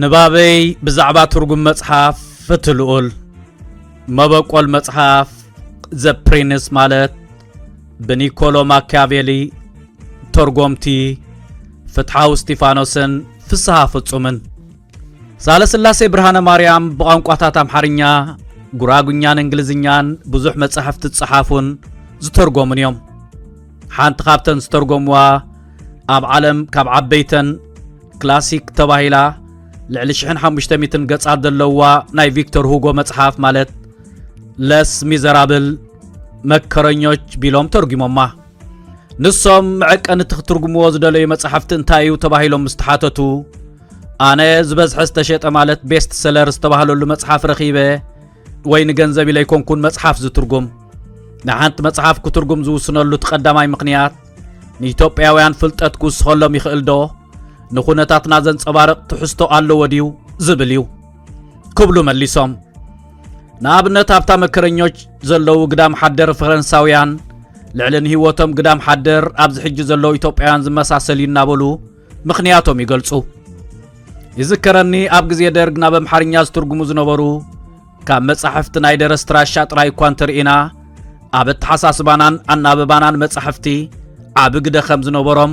ንባበይ ብዛዕባ ትርጉም መጽሓፍ ፍትህ ልኡል መበቆል መጽሓፍ ዘ ፕሪንስ ማለት ብኒኮሎ ማኪያቬሊ ተርጎምቲ ፍትሓዊ እስጢፋኖስን ፍስሃ ፍጹምን ሳለስላሴ ብርሃነ ማርያም ብቋንቋታት ኣምሓርኛ፣ ጉራጉኛን እንግሊዝኛን ብዙሕ መጻሕፍቲ ዝጸሓፉን ዝተርጎሙን እዮም። ሓንቲ ካብተን ዝተርጎምዋ ኣብ ዓለም ካብ ዓበይተን ክላሲክ ተባሂላ ልዕሊ 1500 ገጻት ዘለዋ ናይ ቪክቶር ሁጎ መጽሓፍ ማለት ለስ ሚዘራብል መከረኞች ቢሎም ተርጒሞማ። ንሶም መዐቀኒ እቲ ክትርጉምዎ ዝደለዩ መጻሕፍቲ እንታይ እዩ ተባሂሎም ምስ ተሓተቱ ኣነ ዝበዝሐ ዝተሸጠ ማለት ቤስት ሰለር ዝተባህለሉ መጽሓፍ ረኺበ ወይ ንገንዘብ ኢለ ኣይኮንኩን መጽሓፍ ዝትርጉም ንሓንቲ መጽሓፍ ክትርጉም ዝውስነሉ እቲ ቀዳማይ ምኽንያት ንኢትዮጵያውያን ፍልጠት ክውስኸሎም ይኽእል ዶ ንኹነታትና ዘንጸባርቕ ትሕዝቶ ኣለዎ ድዩ ዝብል እዩ ክብሉ መሊሶም ንኣብነት ኣብታ መከረኞች ዘለዉ ግዳም ሓደር ፈረንሳውያን ልዕሊ ንህይወቶም ግዳም ሓደር ኣብዚ ሕጂ ዘለዉ ኢትዮጵያውያን ዝመሳሰል እዩ እናበሉ ምኽንያቶም ይገልጹ። ይዝከረኒ ኣብ ግዜ ደርግ ናብ ኣምሓርኛ ዝትርጉሙ ዝነበሩ ካብ መጻሕፍቲ ናይ ደረስቲ ራሻ ጥራይ እኳ እንተርኢና ኣብ ኣተሓሳስባናን ኣናብባናን መጻሕፍቲ ዓቢ ግደ ከም ዝነበሮም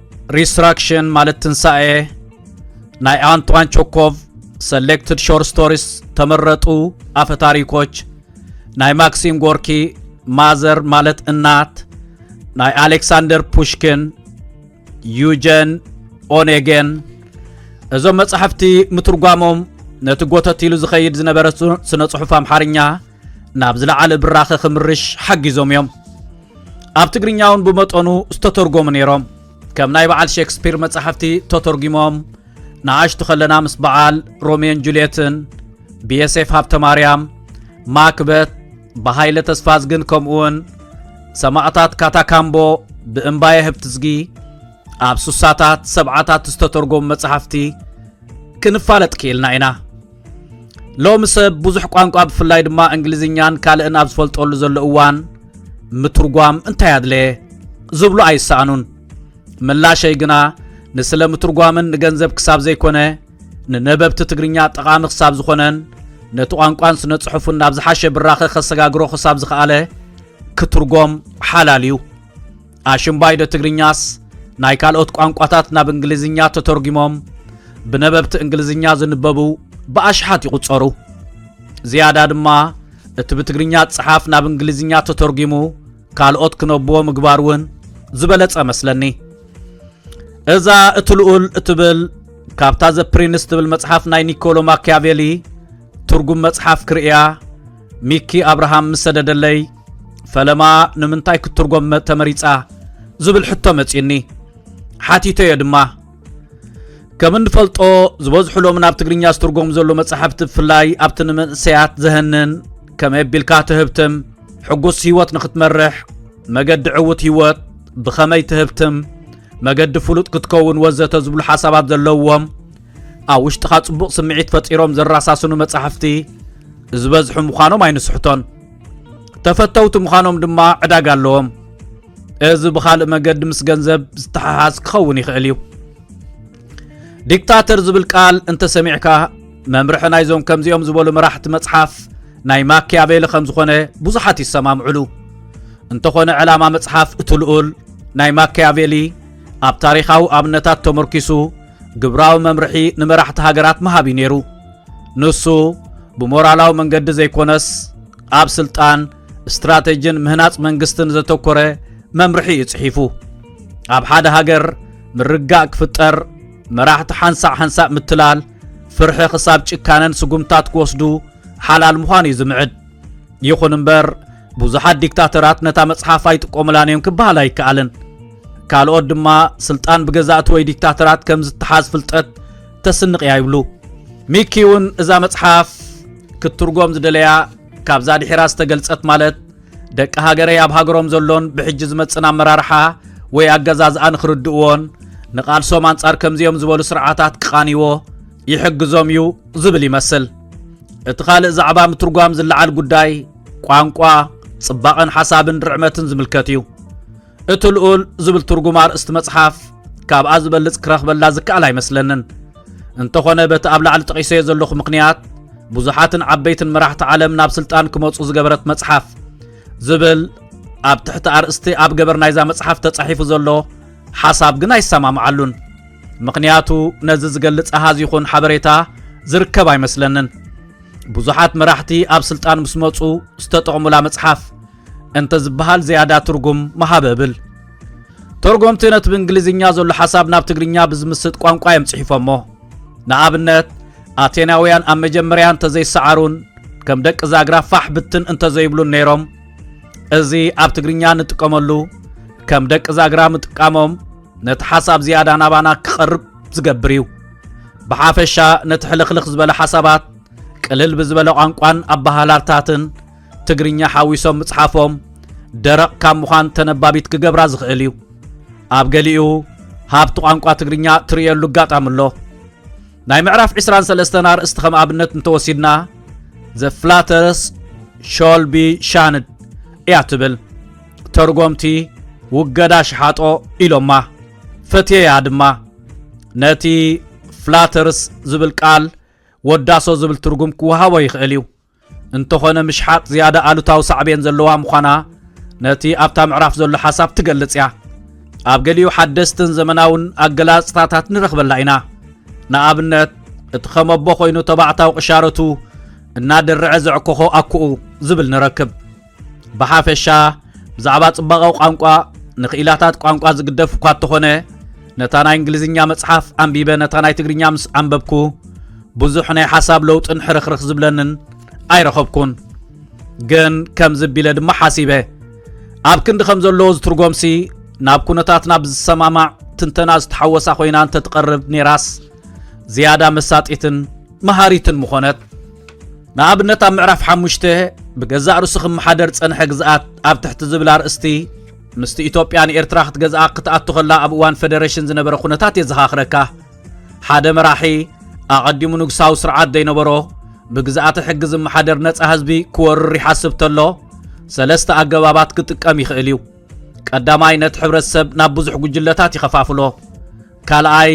ሪስትራክሽን ማለት ትንሳኤ ናይ ኣንቷን ቾኮቭ ሰሌክትድ ሾር ስቶሪስ ተመረጡ ኣፈ ታሪኮች ናይ ማክሲም ጎርኪ ማዘር ማለት እናት ናይ ኣሌክሳንደር ፑሽኪን ዩጀን ኦኔጌን እዞም መጻሕፍቲ ምትርጓሞም ነቲ ጎተት ኢሉ ዝኸይድ ዝነበረ ስነ ጽሑፍ ኣምሓርኛ ናብ ዝለዓለ ብራኸ ክምርሽ ሓጊዞም እዮም ኣብ ትግርኛ እውን ብመጠኑ ዝተተርጎሙ ነይሮም ከም ናይ በዓል ሼክስፒር መጻሕፍቲ ተተርጒሞም ንኣሽቱ ከለና ምስ በዓል ሮሜን ጁልየትን ብየሴፍ ሃብተ ማርያም ማክበት ብሃይለ ተስፋዝግን ከምኡውን ሰማእታት ካታካምቦ ብእምባየ ህብትዝጊ ኣብ ሱሳታት ሰብዓታት ዝተተርጎሙ መጻሕፍቲ ክንፋለጥ ክኢልና ኢና ሎሚ ሰብ ብዙሕ ቋንቋ ብፍላይ ድማ እንግሊዝኛን ካልእን ኣብ ዝፈልጠሉ ዘሎ እዋን ምትርጓም እንታይ ኣድለየ ዝብሉ ኣይሰኣኑን ምላሸይ ግና ንስለ ምትርጓምን ንገንዘብ ክሳብ ዘይኮነ ንነበብቲ ትግርኛ ጠቓሚ ክሳብ ዝኾነን ነቲ ቋንቋን ስነ ጽሑፍን ናብ ዝሓሸ ብራኸ ከሰጋግሮ ክሳብ ዝኸኣለ ክትርጎም ሓላል እዩ ኣሽምባይዶ ትግርኛስ ናይ ካልኦት ቋንቋታት ናብ እንግሊዝኛ ተተርጒሞም ብነበብቲ እንግሊዝኛ ዝንበቡ ብኣሽሓት ይቝጸሩ። ዝያዳ ድማ እቲ ብትግርኛ ዝጸሓፍ ናብ እንግሊዝኛ ተተርጒሙ ካልኦት ክነብዎ ምግባር እውን ዝበለጸ መስለኒ። እዛ እቲ ልኡል እትብል ካብታ ዘ ፕሪንስ ትብል መጽሓፍ ናይ ኒኮሎ ማኪያቬሊ ትርጉም መጽሓፍ ክርእያ ሚኪ ኣብርሃም ምስ ሰደደለይ ፈለማ ንምንታይ ክትትርጎም ተመሪጻ ዝብል ሕቶ መጺኒ ሓቲተዮ ድማ ከም እንፈልጦ ዝበዝሑ ሎም ናብ ትግርኛ ዝትርጎም ዘሎ መጻሕፍቲ ብፍላይ ኣብቲ ንመንእሰያት ዘህንን ከመይ ኣቢልካ ትህብትም ሕጉስ ህይወት ንኽትመርሕ መገዲ ዕውት ህይወት ብኸመይ ትህብትም መገዲ ፍሉጥ ክትከውን ወዘተ ዝብሉ ሓሳባት ዘለዎም ኣብ ውሽጥኻ ጽቡቕ ስምዒት ፈጢሮም ዘራሳስኑ መጻሕፍቲ ዝበዝሑ ምዃኖም ኣይንስሕቶን ተፈተውቲ ምዃኖም ድማ ዕዳጋ ኣለዎም እዚ ብኻልእ መገዲ ምስ ገንዘብ ዝተሓሓዝ ክኸውን ይኽእል እዩ ዲክታተር ዝብል ቃል እንተሰሚዕካ መምርሒ ናይዞም ከምዚኦም ዝበሉ መራሕቲ መጽሓፍ ናይ ማኪያቬሊ ከም ዝኾነ ብዙሓት ይሰማምዕሉ እንተኾነ ዕላማ መጽሓፍ እቲ ልኡል ናይ ማኪያቬሊ ኣብ ታሪኻዊ ኣብነታት ተመርኪሱ ግብራዊ መምርሒ ንመራሕቲ ሃገራት መሃብ እዩ ነይሩ ንሱ ብሞራላዊ መንገዲ ዘይኮነስ ኣብ ስልጣን ስትራቴጂን ምህናጽ መንግስትን ዘተኮረ መምርሒ እዩ ጽሒፉ ኣብ ሓደ ሃገር ምርጋእ ክፍጠር መራሕቲ ሓንሳእ ሓንሳእ ምትላል ፍርሒ ክሳብ ጭካነን ስጉምታት ክወስዱ ሓላል ምዃን እዩ ዝምዕድ ይኹን እምበር ብዙሓት ዲክታተራት ነታ መጽሓፍ ኣይጥቀሙላን እዮም ክበሃል ኣይከኣልን ካልኦት ድማ ስልጣን ብገዛእቲ ወይ ዲክታተራት ከም ዝተሓዝ ፍልጠት ተስንቕ እያ ይብሉ። ሚኪ እውን እዛ መጽሓፍ ክትትርጎም ዝደለያ ካብዛ ድሒራ ዝተገልጸት ማለት ደቂ ሃገረይ ኣብ ሃገሮም ዘሎን ብሕጂ ዝመጽን ኣመራርሓ ወይ ኣገዛዝኣ ንኽርድእዎን ንቓልሶም ኣንጻር ከምዚኦም ዝበሉ ስርዓታት ክቓንይዎ ይሕግዞም እዩ ዝብል ይመስል እቲ ካልእ ዛዕባ ምትርጓም ዝለዓል ጉዳይ ቋንቋ ጽባቐን ሓሳብን ርዕመትን ዝምልከት እዩ እቲ ልኡል ዝብል ትርጉም ኣርእስቲ መጽሓፍ ካብኣ ዝበልጽ ክረኽበላ ዝከኣል ኣይመስለንን እንተኾነ በቲ ኣብ ላዕሊ ጠቒሰዮ ዘለኹ ምኽንያት ብዙሓትን ዓበይትን መራሕቲ ዓለም ናብ ስልጣን ክመፁ ዝገበረት መጽሓፍ ዝብል ኣብ ትሕቲ ኣርእስቲ ኣብ ገበር ናይዛ መጽሓፍ ተጻሒፉ ዘሎ ሓሳብ ግን ኣይሰማምዓሉን ምኽንያቱ ነዚ ዝገልጽ ኣሃዝ ይኹን ሓበሬታ ዝርከብ ኣይመስለንን ብዙሓት መራሕቲ ኣብ ስልጣን ምስ መፁ ዝተጠቕሙላ መጽሓፍ እንተ ዝበሃል ዝያዳ ትርጉም ምሃበ እብል። ተርጎምቲ ነቲ ብእንግሊዝኛ ዘሎ ሓሳብ ናብ ትግርኛ ብዝምስጥ ቋንቋ እዮም ጽሒፎሞ። ንኣብነት ኣቴናውያን ኣብ መጀመርያ እንተዘይሰዓሩን ከም ደቂ ዛግራ ፋሕ ብትን እንተዘይብሉን ነይሮም እዚ ኣብ ትግርኛ ንጥቀመሉ ከም ደቂ ዛግራ ምጥቃሞም ነቲ ሓሳብ ዝያዳ ናባና ክቐርብ ዝገብር እዩ ብሓፈሻ ነቲ ሕልኽልኽ ዝበለ ሓሳባት ቅልል ብዝበለ ቋንቋን ኣበሃላልታትን ትግርኛ ሓዊሶም ምጽሓፎም ደረቕ ካብ ምዃን ተነባቢት ክገብራ ዝኽእል እዩ። ኣብ ገሊኡ ሃብቲ ቋንቋ ትግርኛ ትርእየሉ ኣጋጣሚ ኣሎ። ናይ ምዕራፍ 23 ኣርእስቲ ከም ኣብነት እንተወሲድና ዘ ፍላተርስ ሾልቢ ሻንድ እያ ትብል ተርጎምቲ ውገዳ ሽሓጦ ኢሎማ ፈትየያ ድማ ነቲ ፍላተርስ ዝብል ቃል ወዳሶ ዝብል ትርጉም ክወሃቦ ይኽእል እዩ እንተኾነ ምሽሓጥ ዝያዳ ኣሉታዊ ሳዕቤን ዘለዋ ምዃና ነቲ ኣብታ ምዕራፍ ዘሎ ሓሳብ ትገልጽ እያ። ኣብ ገሊኡ ሓደስትን ዘመናውን ኣገላጽታታት ንረኽበላ ኢና። ንኣብነት እቲ ከመቦ ኮይኑ ተባዕታዊ ቅሻረቱ እናደርዐ ዘዕኮኾ ኣኩኡ ዝብል ንረክብ። ብሓፈሻ ብዛዕባ ጽባቐ ቋንቋ ንክኢላታት ቋንቋ ዝግደፍ እኳ እተኾነ ነታ ናይ እንግሊዝኛ መጽሓፍ ኣንቢበ ነታ ናይ ትግርኛ ምስ ኣንበብኩ ብዙሕ ናይ ሓሳብ ለውጥን ሕርኽርኽ ዝብለንን ኣይረኸብኩን ግን ከም ዝቢለ ድማ ሓሲበ ኣብ ክንዲ ከም ዘለዎ ዝትርጎምሲ ናብ ኩነታትና ብዝሰማማዕ ትንተና ዝተሓወሳ ኮይና እንተትቐርብ ኔራስ ዝያዳ መሳጢትን መሃሪትን ምኾነት። ንኣብነት ኣብ ምዕራፍ ሓሙሽተ ብገዛእ ርእሱ ክመሓደር ዝጸንሐ ግዝኣት ኣብ ትሕቲ ዝብል ኣርእስቲ ምስቲ ኢትዮጵያ ንኤርትራ ክትገዝኣ ክትኣቱ ከላ ኣብ እዋን ፈደረሽን ዝነበረ ኩነታት የዘኻኽረካ። ሓደ መራሒ ኣቐዲሙ ንጉሳዊ ስርዓት ዘይነበሮ ብግዝኣተ ሕጊ ዝመሓደር ነጻ ህዝቢ ክወርር ይሓስብ ተሎ ሰለስተ ኣገባባት ክጥቀም ይኽእል እዩ። ቀዳማይ ነቲ ሕብረተሰብ ናብ ብዙሕ ጉጅለታት ይኸፋፍሎ። ካልኣይ፣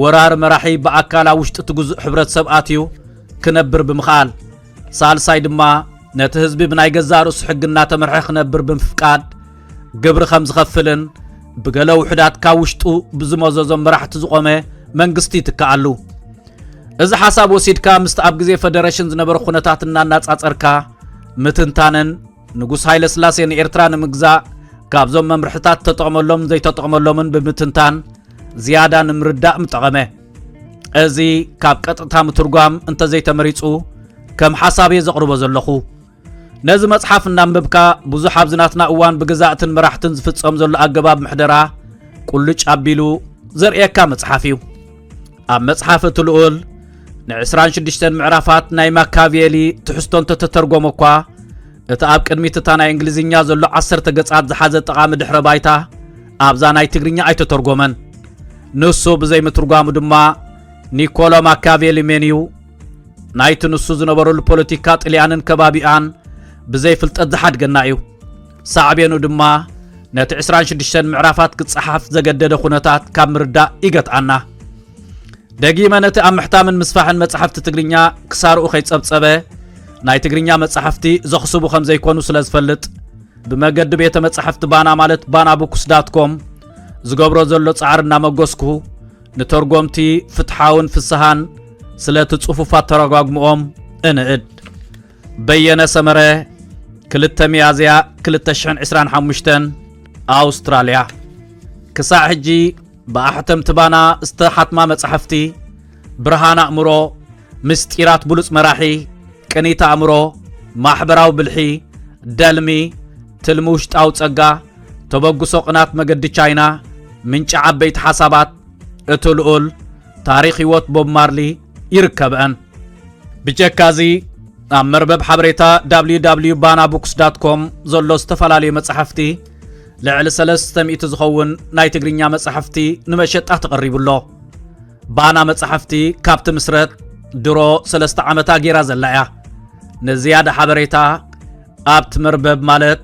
ወራር መራሒ ብኣካል ኣብ ውሽጢ እቲ ግዙእ ሕብረተሰብ ኣትዩ ክነብር ብምኽኣል። ሳልሳይ ድማ፣ ነቲ ህዝቢ ብናይ ገዛእ ርእሱ ሕጊ እናተመርሐ ክነብር ብምፍቃድ ግብሪ ከም ዝኸፍልን ብገለ ውሑዳት ካብ ውሽጡ ብዝመዘዞም መራሕቲ ዝቖመ መንግስቲ ይትከኣሉ። እዚ ሓሳብ ወሲድካ ምስቲ ኣብ ግዜ ፈደረሽን ዝነበረ ኩነታት እናናጻጸርካ ምትንታንን፣ ንጉስ ሃይለስላሴ ንኤርትራ ንምግዛእ ካብዞም መምርሕታት ተጠቕመሎምን ዘይተጠቕመሎምን ብምትንታን ዝያዳ ንምርዳእ ምጠቐመ እዚ ካብ ቀጥታ ምትርጓም እንተዘይተመሪጹ ከም ሓሳብ እየ ዘቕርቦ ዘለኹ ነዚ መጽሓፍ እናንበብካ ብዙሕ ኣብዚ ናትና እዋን ብግዛእትን መራሕትን ዝፍጸም ዘሎ ኣገባብ ምሕደራ ቁልጭ ኣቢሉ ዘርእየካ መጽሓፍ እዩ ኣብ መጽሓፍ እቲ ልኡል ንዕስራን ሽዱሽተን ምዕራፋት ናይ ማካቬሊ ትሕዝቶ እንተተተርጎመ እኳ እቲ ኣብ ቅድሚት እታ ናይ እንግሊዝኛ ዘሎ ዓሰርተ ገጻት ዝሓዘ ጠቓሚ ድሕረ ባይታ ኣብዛ ናይ ትግርኛ ኣይተተርጎመን ንሱ ብዘይምትርጓሙ ድማ ኒኮሎ ማካቬሊ ሜን እዩ ናይቲ ንሱ ዝነበረሉ ፖለቲካ ጥልያንን ከባቢኣን ብዘይፍልጠት ዝሓድገና እዩ ሳዕቤኑ ድማ ነቲ ዕስራን ሽዱሽተን ምዕራፋት ክጸሓፍ ዘገደደ ኩነታት ካብ ምርዳእ ይገትኣና። ደጊመ ነቲ ኣብ ምሕታምን ምስፋሕን መጻሕፍቲ ትግርኛ ክሳርኡ ከይጸብጸበ ናይ ትግርኛ መጻሕፍቲ ዘኽስቡ ከም ዘይኮኑ ስለ ዝፈልጥ ብመገዲ ቤተ መጻሕፍቲ ባና ማለት ባና ቡክስ ዳት ኮም ዝገብሮ ዘሎ ጻዕሪ እናመጎስኩ ንተርጎምቲ ፍትሓውን ፍስሃን ስለቲ ጽፉፋት ተረጓግምኦም እንእድ በየነ ሰመረ፣ ክልተ ሚያዝያ 2025 ኣውስትራልያ ክሳዕ ሕጂ ብኣሕተምቲ ባና ዝተሓትማ መጻሕፍቲ ብርሃን ኣእምሮ፣ ምስጢራት ብሉጽ መራሒ፣ ቅኒት ኣእምሮ፣ ማሕበራዊ ብልሒ፣ ደልሚ፣ ትልሚ ውሽጣዊ ጸጋ፣ ተበግሶ ቅናት መገዲ ቻይና፣ ምንጪ ዓበይቲ ሓሳባት፣ እቲ ልኡል፣ ታሪኽ ህይወት ቦብ ማርሊ ይርከበአን። ብጀካ እዚ ኣብ መርበብ ሓበሬታ ww ባና ቡክስ ዳት ኮም ዘሎ ዝተፈላለዩ መጻሕፍቲ ልዕሊ 300 ዝኸውን ናይ ትግርኛ መጻሕፍቲ ንመሸጣ ተቐሪቡ ኣሎ ባና መጻሕፍቲ ካብቲ ምስረት ድሮ ሰለስተ ዓመታ ጌራ ዘላ እያ ንዝያዳ ሓበሬታ ኣብቲ መርበብ ማለት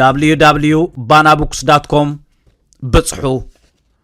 ww ባና ቡክስ ዳት ኮም ብጽሑ